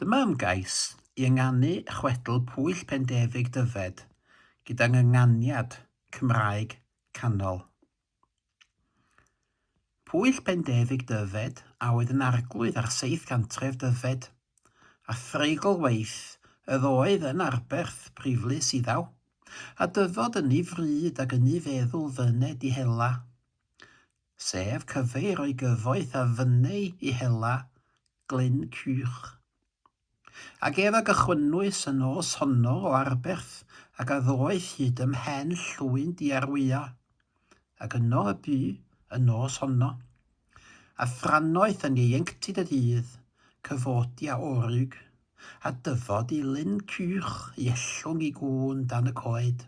Dyma ymgais i ynganu chwedl Pwyll Pendefig Dyfed gyda ngynganiad Cymraeg canol. Pwyll Pendefig Dyfed a oedd yn arglwydd ar seith gantref Dyfed, a threigl waith ydd oedd yn arberth priflys iddaw, a dyfod ynni fryd ag ynni feddwl fyned i hela. sef cyfle i roi gyfoeth a fynneu i hela Glyn Cych. Ag ef a gychwynnwys y nos honno o Arberth ac a ddoeth hyd ym mhen llwyn Diarwya, ac yno y bu y nos honno. A thrannoeth yn ieuenctid y dydd, cyfodi a orug, a dyfod i Lyn Cych i ellwng i gŵn dan y coed.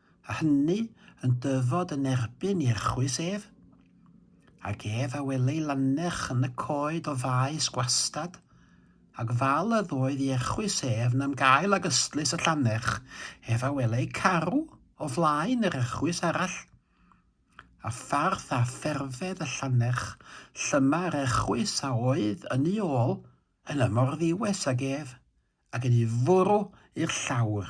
a hynny yn dyfod yn erbyn i'r chwys ef, ac ef a welai lannerch yn y coed o faes gwastad, ac fal a ddoedd i erchwys ef nam gael ag ystlys y llannerch, ef a welai carw o flaen yr erchwys arall, a pharth a pherfedd y llannerch, llyma yr erchwys a oedd yn ei ôl yn ymorddiwes ag ef, ac yn ei fwrw i'r llawr.